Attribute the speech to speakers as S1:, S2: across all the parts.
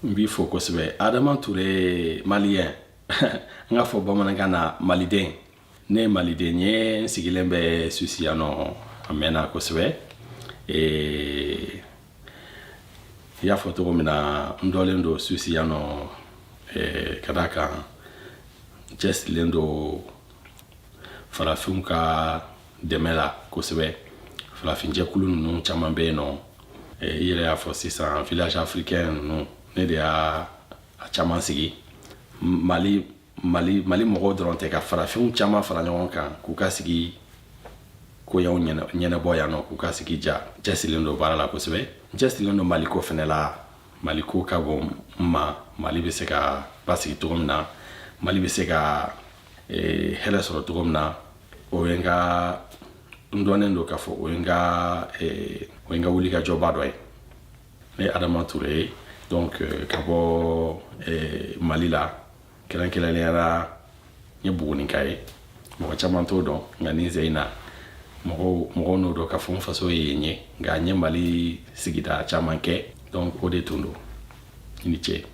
S1: n b'i fo kosɛbɛ adama ture malien n k'a fɔ bamanankan na maliden ne ye maliden ye n sigilen bɛ suisse yan nɔ a mɛnna kosɛbɛ i y'a fɔ cogo min na n dɔnlen don suisse yan nɔ ka d'a kan n cɛsirilen don farafinw ka dɛmɛ la kosɛbɛ farafinjɛkulu ninnu caman bɛ yen nɔ eh, i yɛrɛ y'a fɔ sisan village africain ninnu ne de y'a a caman sigi mali mali mali mɔgɔw dɔrɔn tɛ ka farafinw caman fara ɲɔgɔn kan k'u ka sigi koɲaw ɲɛnɛbɔ yan nɔ k'u ka sigi ja n cɛsirilen don baara la kosɛbɛ n cɛsirilen don maliko fɛnɛ la maliko ka bon n ma mali bɛ se ka basigi cogo min na mali bɛ se ka ee, hɛrɛ sɔrɔ cogo min na o ye n ka n dɔnnen don k'a fɔ o ye n ka ee, o ye n ka wulikajɔba dɔ ye ne ye adama ture ye donc euh, ka bɔ ee, mali la kɛrɛnkɛrɛnnenya la n ye buguninka ye mɔgɔ caman t'o dɔn nka ni zeyi na mɔgɔw mɔgɔw n'o dɔn k'a fɔ n faso ye yen ye nka n ye mali sigida caman kɛ donc o de tun don i ni ce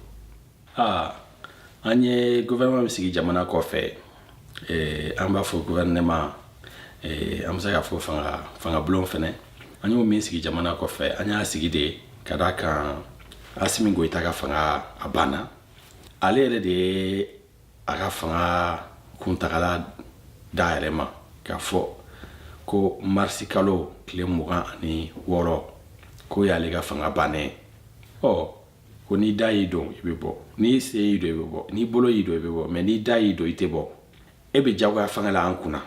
S1: aa an ye gouvernement min sigi jamana kɔfɛ eh, an b'a fɔ gouvernement eh, an bɛ se k'a fɔ fanga fangabulon fɛnɛ an y'o min sigi jamana kɔfɛ an y'a sigi de ka d'a kan asimi goyita ka fanga a banna ale yɛrɛ de ye a ka fanga kuntagala d'a yɛrɛ ma k'a fɔ ko marisi kalo tile mugan ani wɔɔrɔ k'o y'ale ka fanga bannen ɔ ko n'i da y'i don i bɛ bɔ n'i sen y'i don i bɛ bɔ n'i bolo y'i don i bɛ bɔ mais n'i da y'i don i tɛ bɔ e bɛ jagoya fanga la an kunna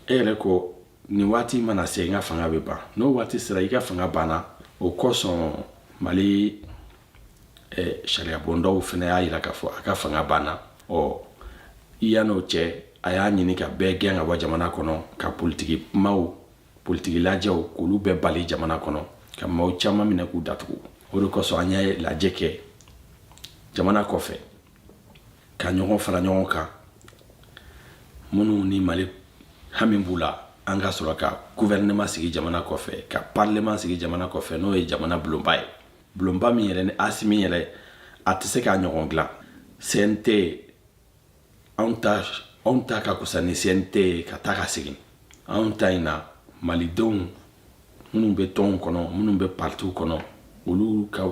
S1: e yɛrɛ ko nin waati mana se n ka fanga bɛ ban n'o waati sera i ka fanga banna o kosɔn mali eh, sariyabondaw fɛnɛ y'a jira k'a fɔ a ka fanga banna ɔ i yann'o cɛ a y'a ɲini ka bɛɛ gɛn ka bɔ jamana kɔnɔ ka politiki kumaw politiki lajɛw k'olu bɛɛ bali jamana kɔnɔ ka maaw caman minɛ k'u datugu o de kosɔn an ye lajɛ kɛ jamana kɔfɛ ka ɲɔgɔn fara ɲɔgɔn kan minnu ni mali hami b'u la an ka sɔrɔ ka guvɛrɛnɛma sigi jamana kɔfɛ ka parleman sigi jamana kɔfɛ n'o ye jamana bulonba ye bulonba min yɛrɛ ni asimi yɛrɛ a tɛ se k'a ɲɔgɔn dilan cnt anw ta anw ta ka kusa ni cnt ye ka taa ka segin anw ta in na malidenw minnu bɛ tɔnw kɔnɔ minnu bɛ partiw kɔnɔ olu ka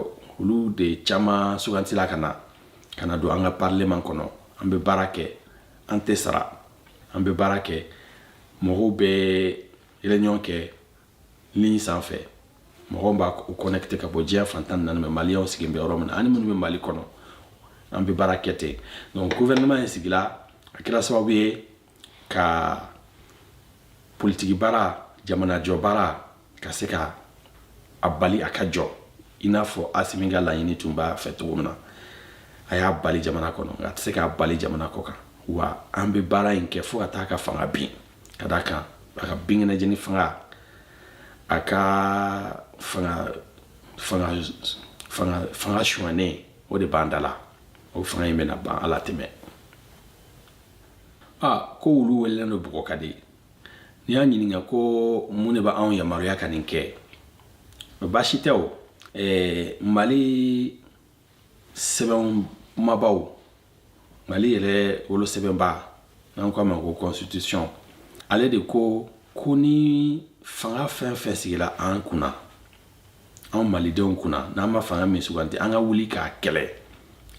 S1: olu de caman sugantila ka na ka na don an ka parleman kɔnɔ an bɛ baara kɛ an tɛ sara an bɛ baara kɛ mɔgɔw bɛ réunion kɛ ligne sanfɛ mɔgɔw b'u connecte ka bɔ diɲɛ fan tan ni naani mais maliyɛnw sigilen bɛ yɔrɔ min na ani minnu bɛ mali kɔnɔ an bɛ baara kɛ ten donc gouvernement in sigila a kɛra sababu ye ka politiki baara jamanajɔ baara ka se ka a bali a ka jɔ i n'a fɔ asimi ka laɲini tun b'a fɛ cogo min na a y'a bali jamana kɔnɔ nka a tɛ se k'a bali jamana kɔ kan wa an bɛ baara in kɛ fo ka taa ka fanga bin ka d'a kan a ka binkɛnɛjeni fanga a ka fanga fanga fanga fanga suɲɛnen o de b'an da la o fanga in bɛna ban ala tɛmɛ a ko wulu welennen don bugɔ ka di n'i y'a ɲininka ko mun de bɛ anw yamaruya ka nin kɛ baasi tɛ o mali sɛbɛn kumabaw mali yɛrɛ wolosɛbɛnba n'an k'a ma ko constitution ale de ko ko ni fanga fɛn fɛn sigila an kunna anw malidenw kunna n'an ma fanga min suganti an ka wuli k'a kɛlɛ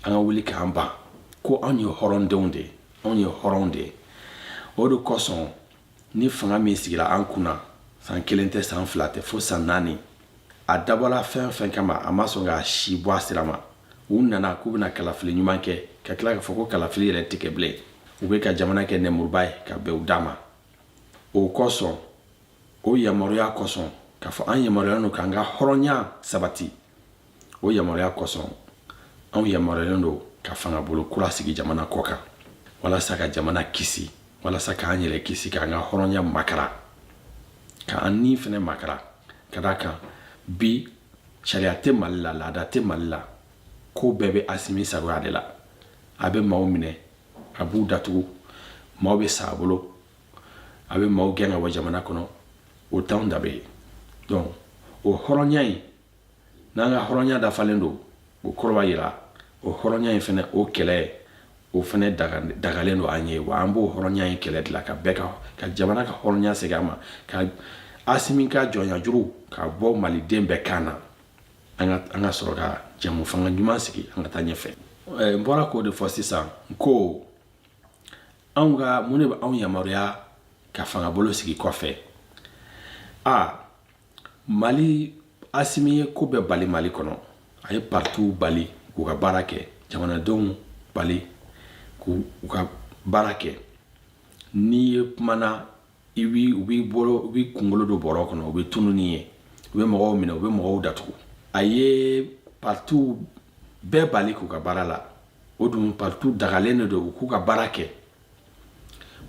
S1: an ka wuli k'an ban ko anw ye hɔrɔndenw de ye anw ye hɔrɔnw de ye o de kosɔn ni fanga min sigira an kunna san kelen tɛ san fila tɛ fo san naani a dabɔla fɛn fɛn kama a ma sɔn k'a si bɔ a sira ma u nana k'u bɛna kalafili ɲuman kɛ ka tila k'a fɔ ko kalafili yɛrɛ tɛ kɛ bilen u bɛ ka jamana kɛ nɛmuruba ye ka bɛn u da ma o kosɔn o yamaruya kosɔn k'a fɔ an yamaruyalen don k'an ka hɔrɔnya sabati o yamaruya kosɔn anw yamaruyalen don ka fangabolo kura sigi jamana kɔ kan walasa ka jamana kisi walasa k'an yɛrɛ kisi k'an ka hɔrɔnya makara k'an ni fɛnɛ makara ka d'a kan bi sariya tɛ mali la laada tɛ mali la ko bɛɛ bɛ asimi sagoya de la a bɛ maaw minɛ a b'u datugu maaw bɛ sa a bolo a bɛ maaw gɛn ka bɔ jamana kɔnɔ o t'anw danbe ye donc o hɔrɔnya in n'an ka hɔrɔnya dafalen don o kɔrɔ b'a yira o hɔrɔnya in fɛnɛ o kɛlɛ o fɛnɛ dagalen don an ye wa an b'o hɔrɔnya in kɛlɛ de la ka bɛɛ ka ka jamana ka hɔrɔnya segin a ma ka asimi ka jɔnyajuru ka bɔ maliden bɛɛ kan na an ka an ka sɔrɔ ka jɛmufanga ɲuman sigi an ka taa ɲɛfɛ n bɔra k'o de fɔ sisan n ko anw ka mun de bɛ anw yamaruya ka fangabolo sigi kɔfɛ a mali asimi ye ko bɛɛ bali mali kɔnɔ a ye partiw bali k'u ka baara kɛ jamanadenw bali k'u ka baara kɛ n'i ye kumana i bi u b'i bolo u b'i kunkolo don bɔrɔ kɔnɔ u bɛ tunu n'i ye u bɛ mɔgɔw minɛ u bɛ mɔgɔw datugu a ye partiw bɛɛ bali k'u ka baara la o dun partiw dagalen de don u k'u ka baara kɛ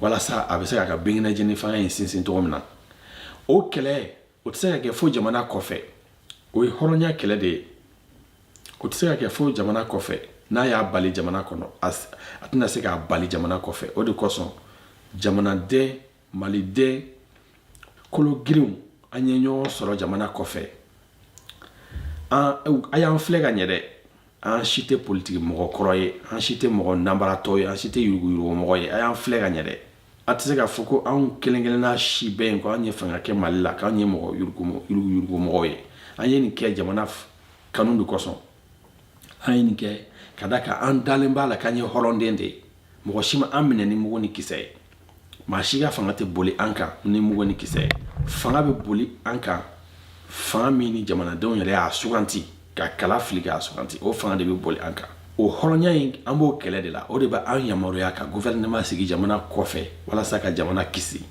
S1: walasa a bɛ se k'a ka binkɛnɛjeni fanga in sinsin cogo min na o kɛlɛ o tɛ se ka kɛ fo jamana kɔfɛ o ye hɔrɔnya kɛlɛ de ye o tɛ se ka kɛ fo jamana kɔfɛ n'a y'a bali jamana kɔnɔ a tɛna se k'a bali jamana kɔfɛ o de kosɔn jamanaden maliden kologirinw an ye ɲɔgɔn sɔrɔ jamana kɔfɛ a y'an filɛ ka ɲɛ dɛ an si tɛ politiki mɔgɔ kɔrɔ ye an si tɛ mɔgɔ nanbaratɔ ye an si tɛ yuruguyurugumɔgɔ ye a y'an filɛ ka ɲɛ dɛ a tɛ se k'a fɔ ko anw kelen kelenna si bɛ yen ko an ye fanga kɛ mali la k'an ye mɔgɔ yuruguyurugumɔgɔ ye an ye nin kɛ jamana kanu de kosɔn an ye nin kɛ ka da kan an dalen b'a la k'an ye hɔrɔnden de ye mɔgɔ si ma an minɛ ni mugu ni kisɛ ye maa si ka fanga tɛ boli an kan ni mugu ni kisɛ ye fanga bɛ boli an kan fanga min ni jamanadenw yɛrɛ y'a suganti ka kala fili k'a suganti o fanga de bɛ boli an kan o hɔrɔnya in an b'o kɛlɛ de la o de bɛ an yamaruya ka gouvernement sigi jamana kɔfɛ walasa ka jamana kisi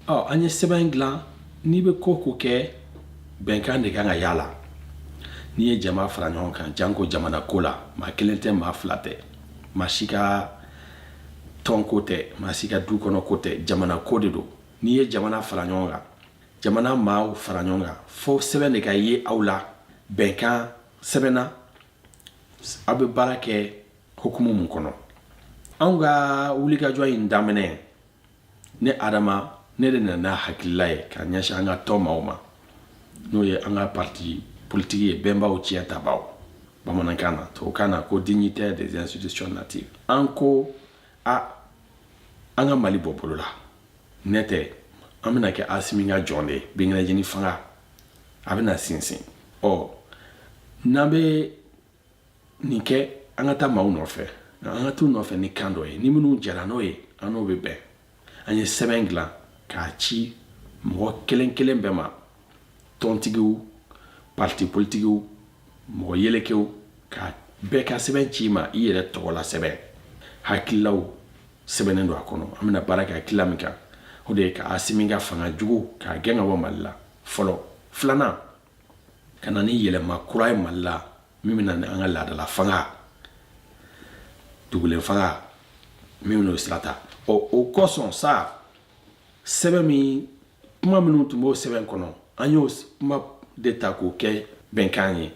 S1: ɔ an ye sɛbɛn in dilan n'i bɛ ko ko kɛ bɛnkan de kan ka y'a la n'i ye jama fara ɲɔgɔn kan janko jamana ko la maa kelen tɛ maa fila tɛ maa si ka tɔn ko tɛ maa si ka du kɔnɔ ko tɛ jamana ko de don n'i ye jamana fara ɲɔgɔn kan jamana maaw fara ɲɔgɔn kan fo sɛbɛn de ka ye aw la bɛnkan sɛbɛnna aw bɛ baara kɛ hukumu mun kɔnɔ anw ka wulikajɔ in daminɛ ne adama ne de nana n'a hakilila ye k'a ɲɛsin an ka tɔn maaw ma n'o ye an ka parti politiki ye bɛnbaw tiɲɛ tabaw bamanankan na tubabukan na ko dignitaire des institutions natives an ko a an ka mali bɔ bolo la n'o tɛ an bɛna kɛ asimi ka jɔn de ye binkɛnɛjeni fanga a bɛna sinsin ɔ n'an bɛ nin kɛ an ka taa maaw nɔfɛ an ka t'u nɔfɛ ni kan dɔ ye ni minnu jɛra n'o ye an n'o bɛ bɛn an ye sɛbɛn dilan k'a ci mɔgɔ kelen kelen bɛɛ ma tɔntigiw parti politikiw mɔgɔ yelekew k'a bɛɛ ka sɛbɛn ci i ma i yɛrɛ tɔgɔ la sɛbɛn hakililaw sɛbɛnnen don a kɔnɔ an bɛna baara kɛ hakilila min kan o de ye ka asimi ka fanga jugu k'a gɛn ka bɔ mali la fɔlɔ filanan ka na ni yɛlɛma kura ye mali la min bɛ na ni an ka laadala fanga dugulen fanga min bɛn'o sira ta ɔ o kosɔn sa sɛbɛn min kuma minnu tun b'o sɛbɛn kɔnɔ an y'o kuma de ta k'o kɛ bɛnkan ye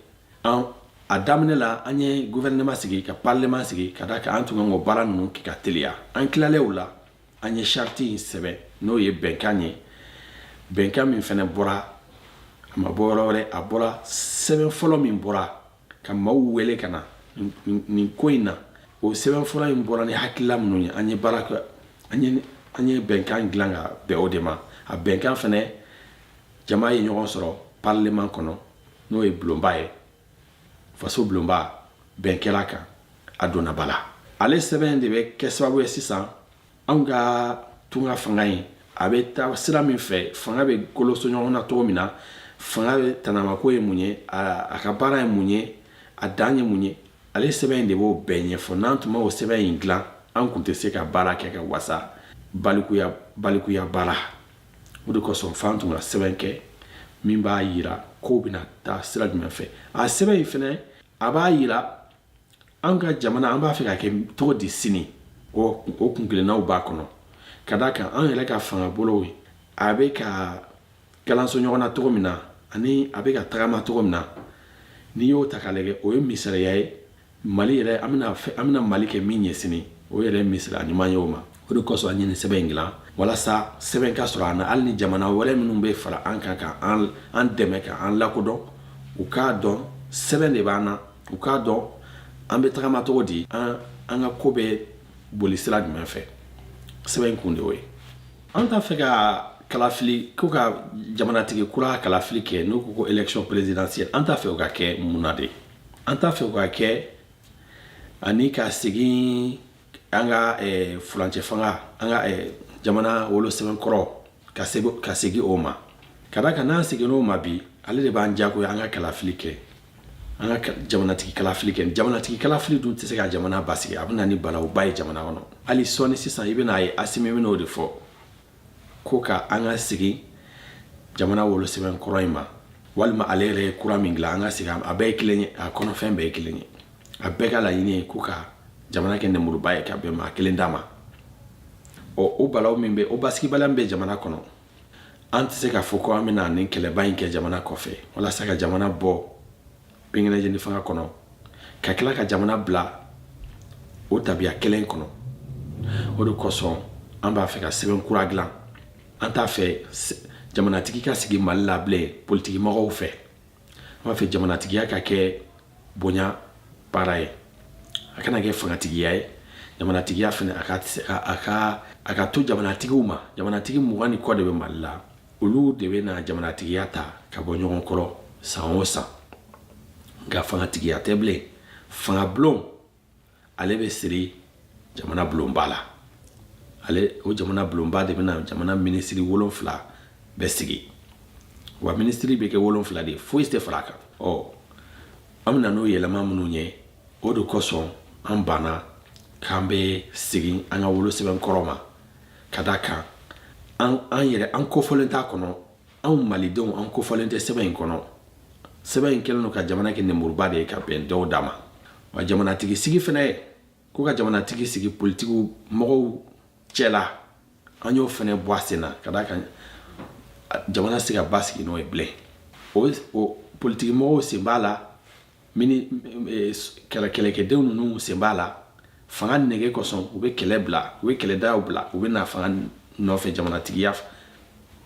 S1: a daminɛ la an ye gouvernement sigi ka parlement sigi ka da kan an tun kan k'o baara ninnu kɛ ka teliya an tilalen o la an ye charte in sɛbɛn n'o ye bɛnkan ye bɛnkan min fɛnɛ bɔra a ma bɔ yɔrɔ wɛrɛ a bɔra sɛbɛn fɔlɔ min bɔra ka maaw wele ka na nin ko in na o sɛbɛn fɔlɔ in bɔra ni hakilila minnu ye an ye baara kɛ an ye an ye bɛnkan dilan ka bɛn o de ma a bɛnkan fɛnɛ jama ye ɲɔgɔn sɔrɔ parlement kɔnɔ n'o ye bulonba ye faso bulonba bɛn kɛra kan a donna ba la ale sɛbɛn de bɛ kɛ sababu ye sisan anw ka tunga fanga ye a bɛ taa sira min fɛ fanga bɛ koloso ɲɔgɔn na cogo min na fanga bɛɛ tanamako ye mun ye a ka baara ye mun ye a dan ye mun ye ale sɛbɛn in de b'o bɛɛ ɲɛfɔ n'an tun m'o sɛbɛn in dilan an tun tɛ se ka baara kɛ ka wasa balikuya balikuya baara o de kosɔn f'an tun ka sɛbɛn kɛ min b'a yira kow bɛna taa sira jumɛn fɛ a sɛbɛn in fɛnɛ a b'a yira an ka jamana an b'a fɛ ka kɛ cogo di sini o o kun kelennaw b'a kɔnɔ ka d'a kan an yɛrɛ ka fanga bolow ye a bɛ ka kalanso ɲɔgɔn na cogo min na ani a bɛ ka tagama cogo min na n'i y'o ta ka lajɛ o ye misaliya ye mali yɛrɛ an bɛna fɛ- an bɛna mali kɛ min ye sini o yɛrɛ misaliya ɲuman ye o ma o de kosɔn an ye nin sɛbɛn in dilan walasa sɛbɛn ka sɔrɔ an na hali ni jamana wɛrɛ minnu bɛ fara an kan ka an an dɛmɛ ka an lakodɔn u k'a dɔn sɛbɛn de b'an na u k'a dɔn an bɛ tagama cogo di an an ka ko bɛ boli sira jumɛn fɛ sɛbɛn in kun de y'o ye an t'a fɛ ka kalafili ko ka jamanatigi kura kalafili kɛ n'u ko ko élection présidentielle an t'a fɛ o ka kɛ mun na de an t'a fɛ o ka kɛ ani ka segin an ka eh, furancɛ fanga an ka eh, jamana wolosɛbɛn kɔrɔ ka segu- ka segin o ma ka da kan n'an seginna o ma bi ale de b'an jagoya an ka kalafili kɛ an ka ka- jamanatigi kalafili kɛ jamanatigi kalafili dun tɛ se ka jamana basigi a bɛ na ni balawuba ye jamana kɔnɔ hali sɔɔni sisan i bɛna a ye asimi bɛna o de fɔ ko ka an ka segin jamana wolosɛbɛn kɔrɔ in ma walima ale yɛrɛ ye kura min dilan an ka segin a bɛɛ ye kelen ye a kɔnɔfɛn bɛɛ ye kelen ye a bɛɛ ka laɲini ye ko ka jamana kɛ nɛmuruba ye ka bɛn maa kelen da ma ɔ o balawu min bɛ o basigibaliya min bɛ jamana kɔnɔ an tɛ se k'a fɔ ko an bɛna nin kɛlɛba in kɛ jamana kɔfɛ walasa ka jamana bɔ binkɛnɛjeni fanga kɔnɔ ka tila ka jamana bila o tabiya kelen kɔnɔ o de kosɔn an b'a fɛ ka sɛbɛn kura dilan an t'a fɛ jamanatigi ka sigi mali la bilen politikimɔgɔw fɛ an b'a fɛ jamanatigiya ka kɛ bonya baara ye a kana kɛ fangatigiya ye jamanatigiya fana a ka a ka a ka to jamanatigiw ma jamanatigi mugan ni kɔ de bɛ mali la olu de bɛ na jamanatigiya ta ka bɔ ɲɔgɔn kɔrɔ san o san nka fangatigiya tɛ bilen fanga bulon ale bɛ siri jamana bulonba la ale o jamana bulonba de bɛna jamana minisiri wolonfila bɛɛ sigi wa minisiri bɛ kɛ wolonfila de foyi tɛ fara a kan ɔ an bɛna n'o yɛlɛma minnu ye o de kosɔn an banna k'an bɛ segin an ka wolosɛbɛn kɔrɔ ma ka da kan an an yɛrɛ an kofɔlen t'a kɔnɔ anw malidenw an kofɔlen tɛ sɛbɛn in kɔnɔ sɛbɛn in kɛlen don ka jamana kɛ nemuruba de ye ka bɛn dɔw da ma wa jamanatigi sigi fana ye ko ka jamanatigi sigi politigi mɔgɔw cɛla an y'o fana bɔ a sen na ka da kan jamana se ka basigi n'o ye bilen o politigi mɔgɔw sen b'a la mini eh, kɛlɛ kɛlɛkɛdenw ninnu sen b'a la fanga nege kosɔn u bɛ kɛlɛ bila u bɛ kɛlɛdaw bila u bɛ na fanga nɔfɛ jamanatigiya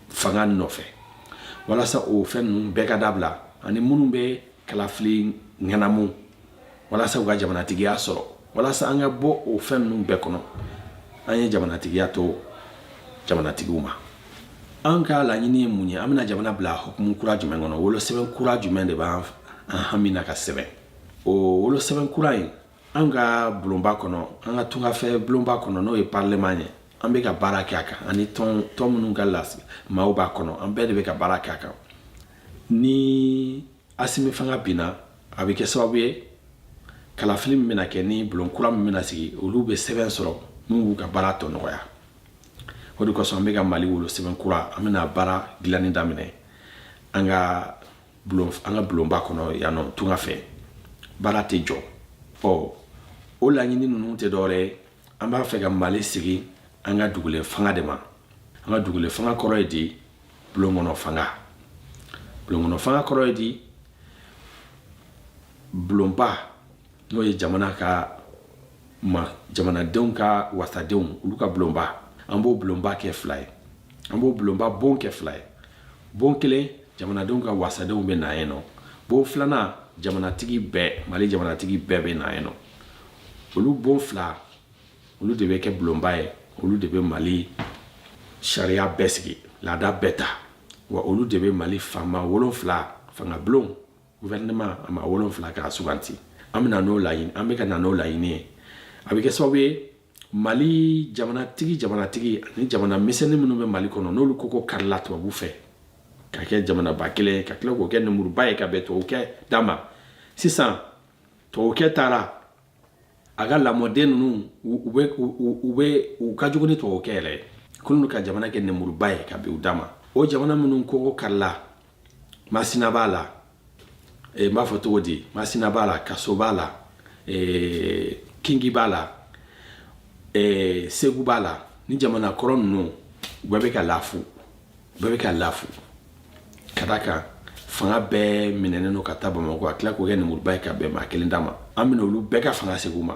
S1: fanga nɔfɛ walasa o fɛn ninnu bɛɛ ka dabila ani minnu bɛ kalafili ŋanamu walasa u ka jamanatigiya sɔrɔ walasa an ka bɔ o fɛn ninnu bɛɛ kɔnɔ an ye jamanatigiya to jamanatigiw ma an ka laɲini ye mun ye an bɛna jamana bila hukumu kura jumɛn kɔnɔ wolosɛbɛn kura jumɛn de b'an an hami na ka sɛbɛn o wolosɛbɛn kura in an ka bulonba kɔnɔ an ka tungafɛ bulonba kɔnɔ n'o ye parleman ye an bɛ ka baara kɛ a kan ani tɔn tɔn minnu ka lasigi maaw b'a kɔnɔ an bɛɛ de bɛ ka baara kɛ a kan ni asimi fanga binna a bɛ kɛ sababu ye kalafili min bɛna kɛ ni bulon kura min bɛna sigi olu bɛ sɛbɛn sɔrɔ min b'u ka baara tɔ nɔgɔya o de kosɔn an bɛ ka mali wolosɛbɛn kura an bɛna baara dilanni daminɛ an ka bulon an ka bulonba kɔnɔ yan nɔ tunga fɛ baara tɛ jɔ ɔ o laɲini ninnu tɛ dɔwɛrɛ ye an b'a fɛ ka mali sigi an ka dugulen fanga de ma an ka dugulen fanga kɔrɔ ye di bulon kɔnɔ fanga bulon kɔnɔ fanga kɔrɔ ye di bulonba n'o ye jamana ka ma jamanadenw ka wasadenw olu ka bulonba an b'o bulonba kɛ fila ye an b'o bulonba bon kɛ fila ye bon kelen jamanadenw ka wasadenw bɛ na yen nɔ bon filanan jamanatigi bɛɛ mali jamanatigi bɛɛ bɛ na yen nɔ olu bon fila olu de bɛ kɛ bulonba ye olu de bɛ mali sariya bɛɛ sigi laada bɛɛ ta wa olu de bɛ mali faama wolonfila fanga bulon gouvernement a maa wolonfila k'a suganti an bɛna n'o laɲini an bɛ ka na n'o laɲini ye a bɛ kɛ sababu ye mali jamanatigi jamanatigi ani jamana misɛnnin minnu bɛ mali kɔnɔ n'olu kɔ kɔ karila tubabu fɛ ka kɛ jamanaba kelen ka tila k'o kɛ nemuruba ye ka bɛn tubabukɛ da ma sisan tubabukɛ taara a ka lamɔden ninnu u bɛ u bɛ u ka jugu ni tubabukɛ yɛrɛ ye k'olu ka jamana kɛ nemuruba ye ka bɛn u da ma o jamana minnu kogo karila masina b'a la eh, n b'a fɔ cogo di masina b'a la kaso b'a la eh, kingi b'a la eh, segu b'a la ni jamana kɔrɔ ninnu u bɛɛ bɛ ka lafu bɛɛ bɛ ka lafu ka d'a kan fanga bɛɛ minɛnen don ka taa bamakɔ a tila k'o kɛ nemuruba ye ka bɛn maa kelen da ma an bɛna olu bɛɛ ka fanga segin u ma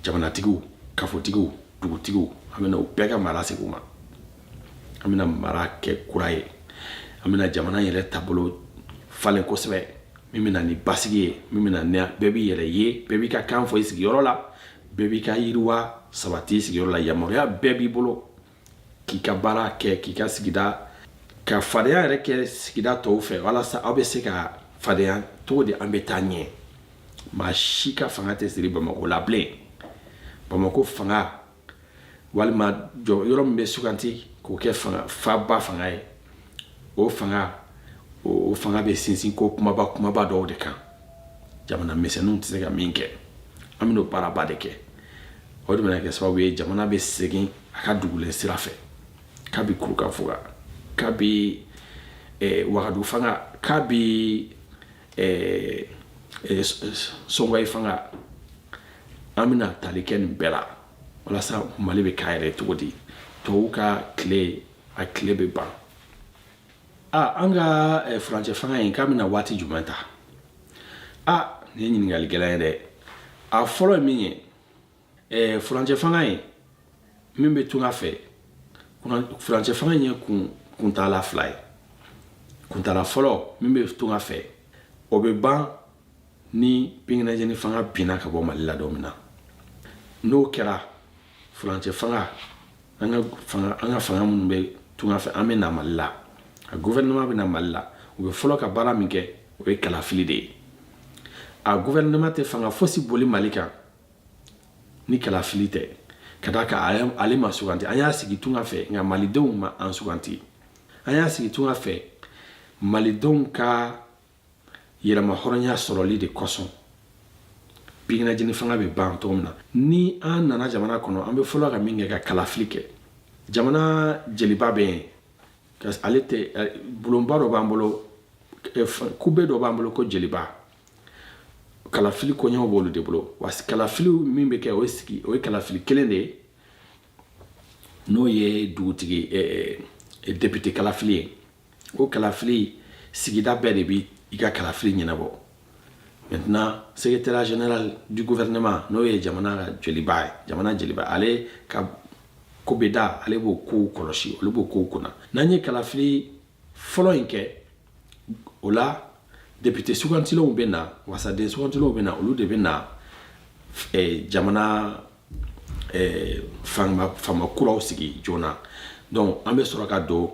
S1: jamanatigiw kafotigiw dugutigiw an bɛna u bɛɛ ka mara segin u ma an bɛna mara kɛ kura ye an bɛna jamana yɛrɛ taabolo falen kosɛbɛ min bɛ na ni basigi ye min bɛ na ni bɛɛ b'i yɛrɛ ye bɛɛ b'i ka kan fɔ i sigiyɔrɔ la bɛɛ b'i ka yiriwa sabati i sigiyɔrɔ la yamaruya bɛɛ b'i bolo k'i ka baara kɛ k'i ka sigida ka fadenya yɛrɛ kɛ sigida tɔw fɛ walasa aw bɛ se ka fadenya cogo di an bɛ taa ɲɛ maa si ka fanga tɛ siri bamakɔ la bilen bamakɔ fanga walima jɔ yɔrɔ min bɛ suganti k'o kɛ fanga faba fanga ye o fanga o fanga bɛ sinsin ko kumaba kumaba dɔw de kan jamana misɛnninw tɛ se ka min kɛ an bɛn'o baaraba de kɛ o de bɛna kɛ sababu ye jamana bɛ segin a ka dugulen sira fɛ kabi kurukan fuga kabi eh, wagadu fanga kabi eh, eh, sɔngɔyi fanga an bɛna tali kɛ nin bɛɛ la walasa mali bɛ k'a yɛrɛ cogo di tubabu ka tile a tile bɛ ban a an ka eh, furancɛ fanga in k'a bɛna waati jumɛn ta a nin ye ɲininkali gɛlɛn ye dɛ a fɔlɔ ye min ye ɛɛ furancɛ fanga in min bɛ tunga fɛ furancɛ fanga ye kun kuntaala fila ye kuntaala fɔlɔ min bɛ tunga fɛ o bɛ ban ni pinginajɛni fanga binna ka bɔ mali la don min na n'o kɛra furancɛ fanga an ka fanga an ka fanga minnu bɛ tunga fɛ an bɛ na mali la a gouvernement bɛ na mali la u bɛ fɔlɔ ka baara min kɛ o ye kalafili de ye a gouvernement tɛ fanga fosi boli mali kan ni kalafili tɛ ka d'a kan ale ma suganti an y'a sigi tunga fɛ nka malidenw ma an suganti an y'a sigi tunga fɛ malidenw ka yɛrɛmahɔrɔnya sɔrɔli de kosɔn pinginajɛni fanga bɛ ban cogo min na ni an nana jamana kɔnɔ an bɛ fɔlɔ ka min kɛ ka kalafili kɛ jamana jeliba bɛ yen ale tɛ bulonba dɔ b'an bolo kube dɔ b'an bolo ko jeliba kalafili koɲɛw b'olu de bolo wa kalafili min bɛ kɛ o ye sigi o ye kalafili kelen de ye n'o ye dugutigi eh, eh, depite kalafili ye o kalafili sigida bɛɛ de bɛ i ka kalafili ɲɛnabɔ maintenant secrétaire général du gouvernement n'o ye jamana ka jeliba ye jamana jeliba ale ka kubeda ale b'o kow kɔlɔsi olu b'o kow kunna n'an ye kalafili fɔlɔ in kɛ o la depite sugantilenw bɛ na wasaden sugantilenw bɛ na olu de bɛ na eh, jamana eh, fanga fanga kuraw sigi joona donc an bɛ sɔrɔ ka don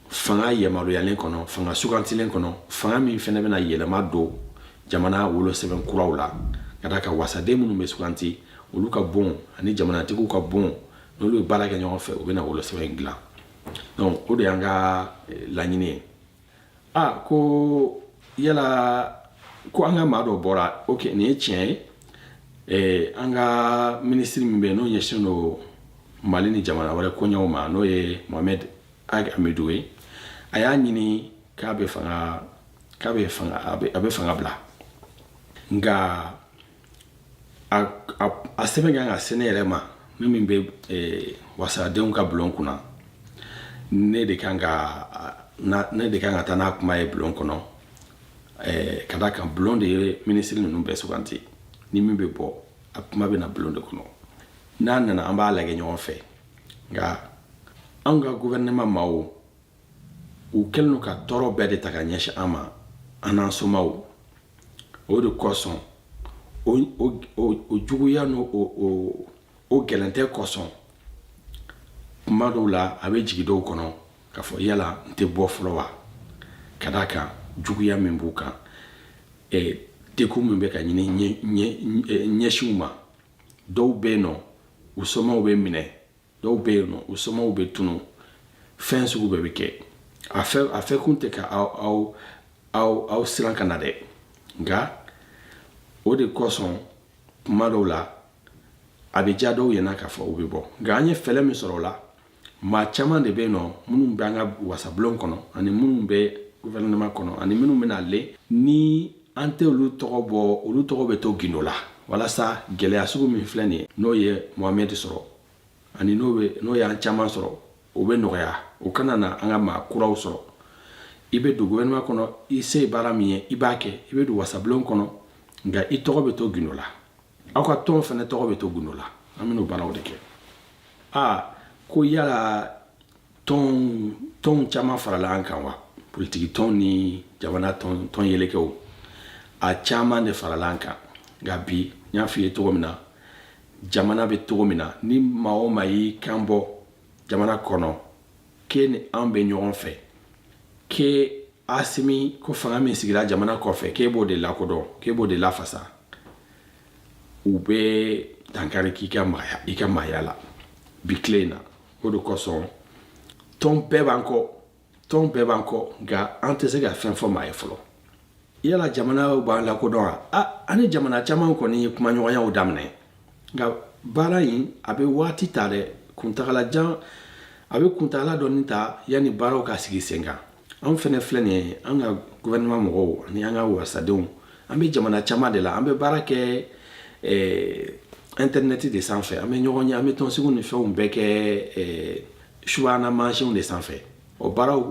S1: fanga yamaruyalen kɔnɔ fanga sugantilen kɔnɔ fanga min fana bɛna yɛlɛma don jamana wolosɛbɛn kuraw la ka d'a kan wasaden minnu bɛ suganti olu ka bon ani jamanatigiw ka bon n'olu ye baara kɛ ɲɔgɔn fɛ u bɛna wolosɛbɛn dilan donc o de y'an ka eh, laɲini ye a ah, ko yala ko an ka maa dɔ bɔra ok nin ye tiɲɛ ye eh, an ka minisiri min bɛ yen n'o ɲɛsinnen don mali ni jamana wɛrɛ koɲɛw ma n'o ye mohamɛd ag amidu ye a y'a ɲini k'a bɛ fanga k'a bɛ fanga a bɛ fanga bila nka a sɛbɛn kan ka se ne yɛrɛ ma ne min bɛ eh, wasadenw ka bulon kunna ne de kan ka ne de kan ka taa n'a kuma ye bulon kɔnɔ eh, ka d'a kan bulon de ye minisiri ninnu bɛɛ suganti ni min bɛ bɔ a kuma bɛ na bulon de kɔnɔ n'a nana an b'a lajɛ ɲɔgɔn fɛ nka anw ka gouvernement maaw u kɛlen don ka tɔɔrɔ bɛɛ de ta ka ɲɛsin an ma an n'an somaw o de kosɔn o juguya n'o gɛrɛntɛ kosɔn kuma dɔw la a bɛ jigin dɔw kɔnɔ k'a fɔ yala n tɛ bɔ fɔlɔ wa ka da a kan juguya min b'u kan dɛgun min bɛ ka ɲini ɲɛsin u ma dɔw bɛ yen nɔ u somaw bɛ minɛ dɔw bɛ yen nɔ u somaw bɛ tunu fɛn sugu bɛɛ bɛ kɛ a fɔ a fɔ kun tɛ ka aw aw aw aw siran ka na dɛ nka o de kosɔn kuma dɔw la a bɛ diya dɔw ɲɛna k'a fɔ u bɛ bɔ nka an ye fɛɛrɛ min sɔrɔ o la maa caman de bɛ yen nɔ minnu bɛ an ka wasabulon kɔnɔ ani minnu bɛ gouvernement kɔnɔ ani minnu bɛna le ni an tɛ olu tɔgɔ bɔ olu tɔgɔ bɛ to gindo la walasa gɛlɛya sugu min filɛ nin ye n'o ye mohamɛdi sɔrɔ ani n'o bɛ n'o y'an caman sɔrɔ o bɛ nɔgɔya o kana na an ka maa kuraw sɔrɔ i bɛ don gouvernement kɔnɔ i se ye baara min ye i b'a kɛ i bɛ don wasabulon kɔnɔ nka i tɔgɔ bɛ to gindo la aw ka tɔn fana tɔgɔ bɛ to gundo la an bɛn'o baaraw de kɛ aa ko yala tɔn tɔnw caman farala an kan wa politiki tɔn ni jamana tɔn tɔn yɛlɛkɛw a caman de farala an kan nka bi n y'a f'i ye cogo min na jamana bɛ cogo min na ni maa o maa y'i kan bɔ jamana kɔnɔ k'e ni an bɛ ɲɔgɔn fɛ k'e asimi ko fanga min sigira jamana kɔfɛ k'e b'o de lakodɔn k'e b'o de lafasa u bɛ dankari k'i ka maaya i ka maaya la bi tile in na o de kosɔn tɔn bɛɛ b'an kɔ tɔn bɛɛ b'an kɔ nka an tɛ se ka fɛn fɔ maa ye fɔlɔ yala jamana b'an lakodɔn wa a ani jamana caman kɔni ye kumaɲɔgɔnyaw daminɛ nka baara in a bɛ waati ta dɛ kuntagala jan a bɛ kuntagala dɔɔni ta yanni baaraw ka sigi sen kan anw fɛnɛ filɛ nin ye an ka gouvernement mɔgɔw ani an ka wasadenw an bɛ jamana caman de la an bɛ baara kɛ eh, intɛrinɛti de sanfɛ an bɛ ɲɔgɔn ye an bɛ tɔnsigiw ni fɛnw bɛɛ kɛ eh, subahana mansinw de sanfɛ o baaraw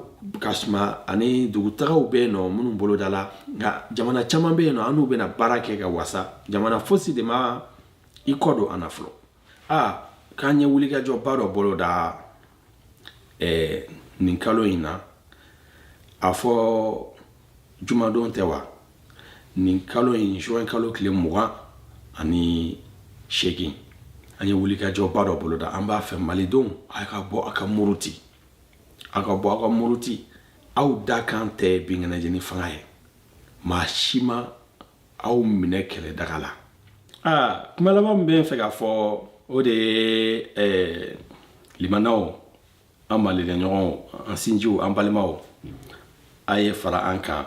S1: ka suma ani dugutagaw bɛ yen nɔ minnu bolodala nka jamana caman bɛ yen nɔ an n'u bɛna baara kɛ ka wasa jamana fosi de ma i kɔ don an na fɔlɔ aa k'an ye wulikajɔba dɔ boloda ɛɛ nin kalo in na a fɔ jumadon tɛ wa nin kalo in juin kalo tile mugan ani seegin an ye wulikajɔba dɔ boloda an b'a fɛ malidenw a ka bɔ a ka muruti a ka bɔ aw ka muruti aw dakan tɛ binkɛnɛjeni fanga ye maa si ma aw minɛ kɛlɛ daga la aa kuma laban min bɛ n fɛ k'a fɔ o de ye eh, limanaw an malidenɲɔgɔnw an sinjiw an balimaw a ye fara an kan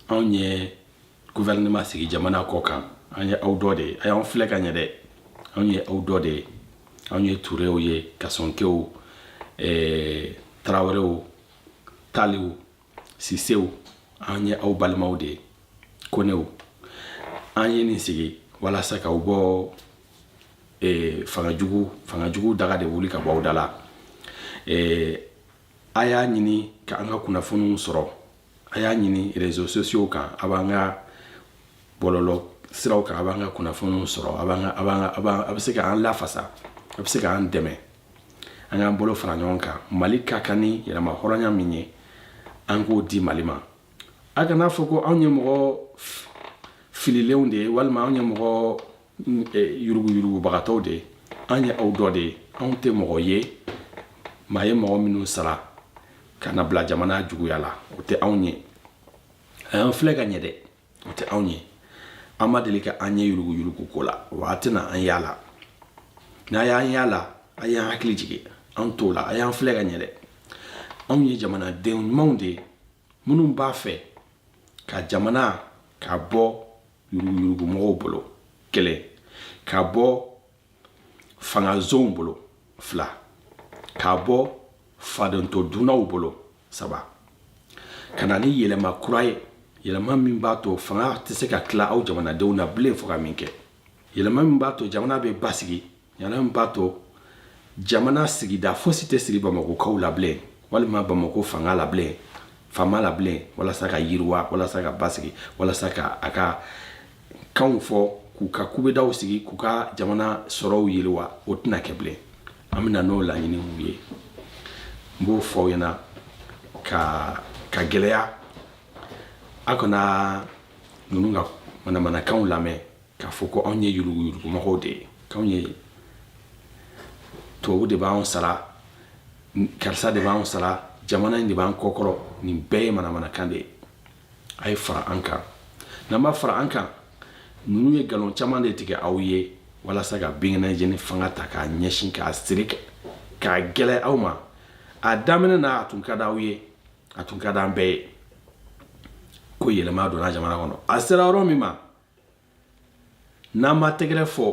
S1: anw ye gouvernement sigi jamana kɔ kan an ye aw dɔ de ye a y'an filɛ ka ɲɛ dɛ anw ye aw dɔ de ye anw ye turew ye kasɔnkew eh, tarawelew taliw sisew an ye aw balimaw de ye konew an ye nin sigi walasa k'aw bɔ eh, fanga jugu fanga jugu daga de wuli ka bɔ aw da la eh, a y'a ɲini ka an ka kunnafoniw sɔrɔ a y'a ɲini réseaux sociaux kan a b'an ka bɔlɔlɔ siraw kan a b'an ka kunnafoniw sɔrɔ a b'an ka a b'an ka a b'an a bɛ se k'an lafasa a bɛ se k'an dɛmɛ an k'an bolo fara ɲɔgɔn kan mali ka kan ni yɛrɛmahɔrɔnya min ye an k'o di mali ma a kana fɔ ko anw ye mɔgɔ fililenw de ye walima anw ye mɔgɔ yuruguyurugubagatɔw de ye an ye aw dɔ de ye anw tɛ mɔgɔ ye maa ye mɔgɔ minnu sara ka na bila jamana juguya la o tɛ anw ye a y'an filɛ ka ɲɛ dɛ o tɛ anw ye a ma deli ka an ye yuruguyurugu ko la wa a tɛna an y'a la n'a y'an y'a la a y'an hakili jigin an t'o la a y'an filɛ ka ɲɛ dɛ anw ye jamanaden ɲumanw de ye minnu b'a fɛ ka jamana ka bɔ yuruguyurugumɔgɔw bolo kelen ka bɔ fangazonw bolo fila ka bɔ fadento dunnaw bolo saba ka na ni yɛlɛma kura ye yɛlɛma min b'a to fanga tɛ se ka tila aw jamanadenw na bilen fo ka min kɛ yɛlɛma min b'a to jamana bɛ basigi yɛlɛma min b'a to jamana sigida fosi tɛ siri bamakokaw la bilen walima bamako fanga la bilen faama la bilen walasa ka yiriwa walasa ka basigi walasa ka a ka kanw fɔ k'u ka kubedaw sigi k'u ka jamana sɔrɔw yiriwa o tɛna kɛ bilen an bɛna n'o laɲiniw ye n b'o fɔ aw ɲɛna k'a gɛlɛya a kana ninnu ka manamanakanw lamɛn k'a fɔ ko anw ye yuruguyurugumɔgɔw de ye k'anw ye tubabu de b'anw sara karisa de b'anw sara jamana in de b'an kɔkɔrɔ nin bɛɛ ye manamanakan de ye a ye fara an kan n'an b'a fara an kan ninnu ye nkalon caman de tigɛ aw ye walasa ka binkɛnɛjeni fanga ta k'a ɲɛsin k'a siri k'a gɛlɛya aw ma a daminɛ na a tun ka di aw ye a tun ka di an bɛɛ ye ko yɛlɛma donna jamana kɔnɔ a sera yɔrɔ min ma n'an ma tɛgɛrɛ fɔ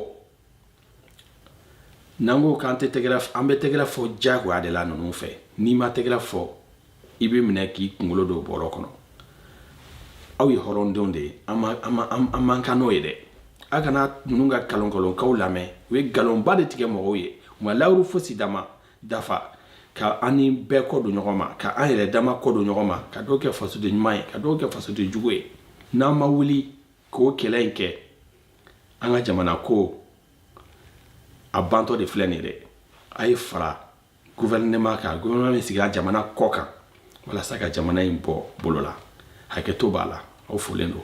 S1: n'an ko k'an tɛ tɛgɛrɛ an bɛ tɛgɛrɛ fɔ diyagoya de la ninnu fɛ n'i ma tɛgɛrɛ fɔ i bɛ minɛ k'i kunkolo don bɔrɔ kɔnɔ aw ye hɔrɔndenw de ye an man kan n'o ye dɛ a kana ninnu ka nkalonnkalonkanw lamɛn u ye nkalonba de tigɛ mɔgɔw ye u ma layidu fosi dafa dafa ka an ni bɛɛ kɔ don ɲɔgɔn ma ka an yɛrɛ dama kɔ don ɲɔgɔn ma ka dɔw kɛ fasoden ɲuman ye ka dɔw kɛ fasoden jugu ye n'an ma wuli k'o kɛlɛ in kɛ an ka jamana ko a bantɔ de filɛ nin dɛ a ye fara gouvernement kan gouvernement min sigira jamana kɔ kan walasa ka jamana in bɔ bolo la hakɛto b'a la aw folen don